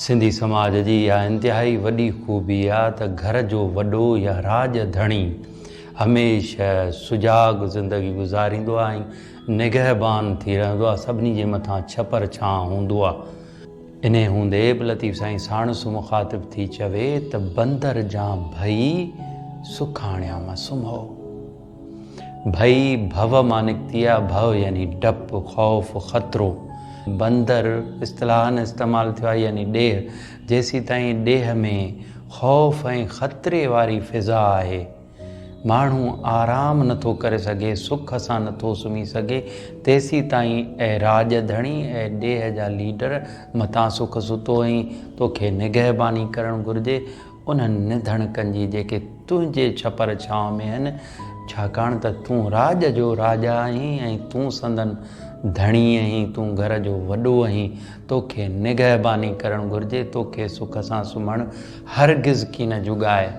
سنڌي سماج جي اها انتهائي وڏي خوبي آ ته گهر جو وڏو يا راڄ ڌڻي هميشه سجاڳ زندگي گذاريندو آ ۽ نگهبان ٿي رهندو آ سڀني جي مٿان ڇپر ڇانء هوندو آ انهيء هوندي به لطيف سائين ساڻس مخاطب ٿي چوي ته بندر جان ڀئي سکاڻيان مان سمهو. ڀئي ڀو مان نڪتي آهي، ڀو يعني ڊپ، خوف، خطرو. بندر اصطلاحاً استعمال ٿيو آهي يعني ڏيهه، جيسيتائين ڏيهه ۾ خوف ۽ خطري واري فضا آهي، ماڻهو آرام نه ٿو ڪري سگهي، سک سان نه ٿو سمهي سگهي، تيسيتائين اي راڄ ڌڻي، اي ڏيهه جا ليڊر، متان سک ستو ۽ توکي نگهباني ڪرڻ گهرجي، انهن نڌڻڪن جي جيڪي تنهنجي ڇپر ڇانو ۾ آهن، ڇاڪاڻ ته تون راڄ جو راجا آهين ۽ تون سندن ڌڻي آهين، تون گهر جو وڏو آهين، توکي نگهباني ڪرڻ گهرجي، توکي سک سان سمهڻ هرگز ڪين جڳائي.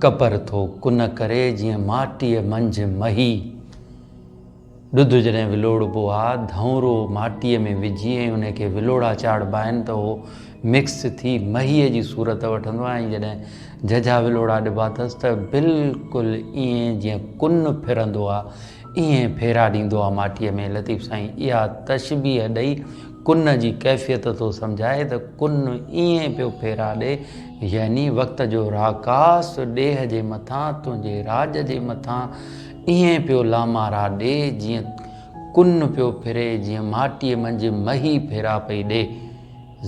قبر ٿو ڪن ڪري جيئن ماٽيء منجهه مهي. ڏڌ جڏهن ولوڙبو آ، ڌئونرو ماٽيء ۾ وجهي ۽ انهي کي ولوڙا چاڙهبا آهن ته اهو مڪس ٿي مهيء جي صورت وٺندو آهي ۽ جڏهن ججها ولوڙا ڏبا اٿس ته بلڪل ائين جيئن ڪن ڦرندو آ، ائين ڦيرا ڏيندو آ ماٽيء ۾. لطيف سائين اها تشبيهه ڏئي ڪن جي ڪيفيت ٿو سمجهائي ته ڪن ائين پيو ڦيرا ڏي يعني وقت جو راڪاس ڏيهه جي مٿان تنهنجي راڄ جي مٿان ائين پيو لامارا ڏي جيئن ڪن پيو ڦري جيئن ماٽيء منجهه مهي ڦيرا پئي ڏي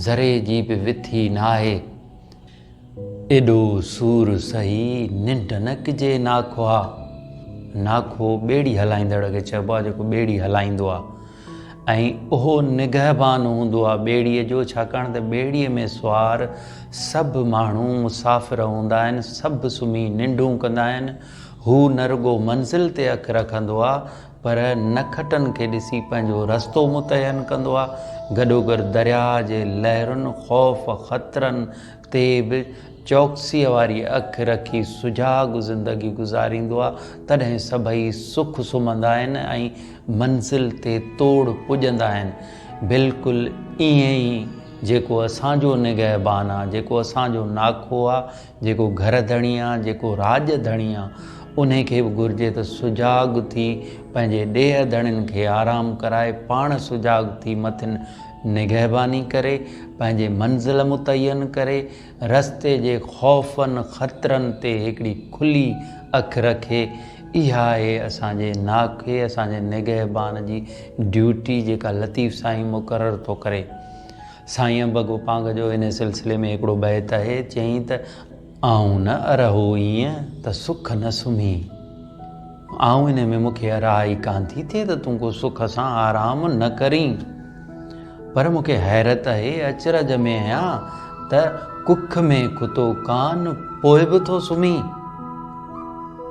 ذري جي به وٿي ناهي ايڏو سور سهي ننڊ نه ڪجي ناکوها ناکو ٻيڙي هلائيندڙ کي چئبو آهي جيڪو ٻيڙي هلائيندو آهي ۽ اهو نگهبان هوندو آهي ٻيڙيء جو، ڇاڪاڻ ته ٻيڙيء ۾ سوار سڀ ماڻهو مسافر هوندا آهن، سڀ سمهي ننڊون ڪندا آهن، هو نه رڳو منزل تي اک رکندو آهي، پر نکٽن کي ڏسي پنهنجو رستو متعين ڪندو آهي، گڏوگڏ درياهه جي لهرن، خوف، خطرن، تي به چوڪسيء واري اک رکي سجاڳ زندگي گذاريندو آ، تڏهن سڀئي سک سمهندا آهن ۽ منزل تي توڙ پڄندا آهن. بلڪل ائين ئي جيڪو اسان جو نگهبان آ، جيڪو اسان جو ناکو آ، جيڪو گهر ڌڻي آ، جيڪو راڄ ڌڻي آ، انهي کي به گهرجي ته سجاڳ ٿي پنهنجي ڏيهه ڌڻين کي آرام ڪرائي، پاڻ سجاڳ ٿي مٿين نگهباني ڪري، پنهنجي منزل متعين ڪري، رستي جي خوفن خطرن تي هڪڙي کلي اک رکي، اها آهي اسان جي ناکئي، اسان جي نگهبان جي ڊيوٽي جيڪا لطيف سائين مقرر ٿو ڪري. سائين انبه گوپانگ جو انهي سلسلي ۾ هڪڙو بيت آهي، چيائين ته. آئون نه ارهو ايئن ته سک نه سمهي. آئون انهي ۾ مون کي ارهاء ئي ڪانه ٿي ٿئي ته تون ڪو سک سان آرام نه ڪرين. پر مون کي حيرت اهي اچرج ۾ آهيان ته ڪک ۾ ڪتو ڪانه پوء به ٿو سمهي.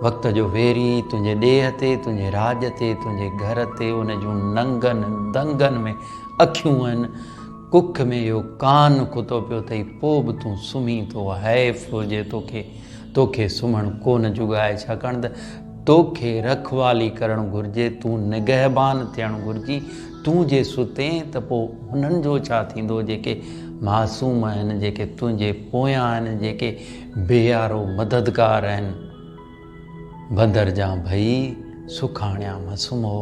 وقت جو ويري تنهنجي ڏيهه تي، تنهنجي راڄ تي، تنهنجي گهر تي ان جون ننگن دنگن ۾ اکيون آهن. ڪک ۾ اهو ڪان ڪتو پيو اٿئي پوء به تون سمهين ٿو حيف ٿو جي توکي توکي سمهڻ ڪونه جڳائي ڇاڪاڻ ته توکي رکوالي ڪرڻ گهرجي تون نگهبان ٿيڻ گهرجي تون جي ستين ته پوء انهن جو ڇا ٿيندو جيڪي معصوم آهن جيڪي تنهنجي پويان آهن جيڪي بيارو مددگار آهن بندر جان ڀئي سکاڻيان مس مئو.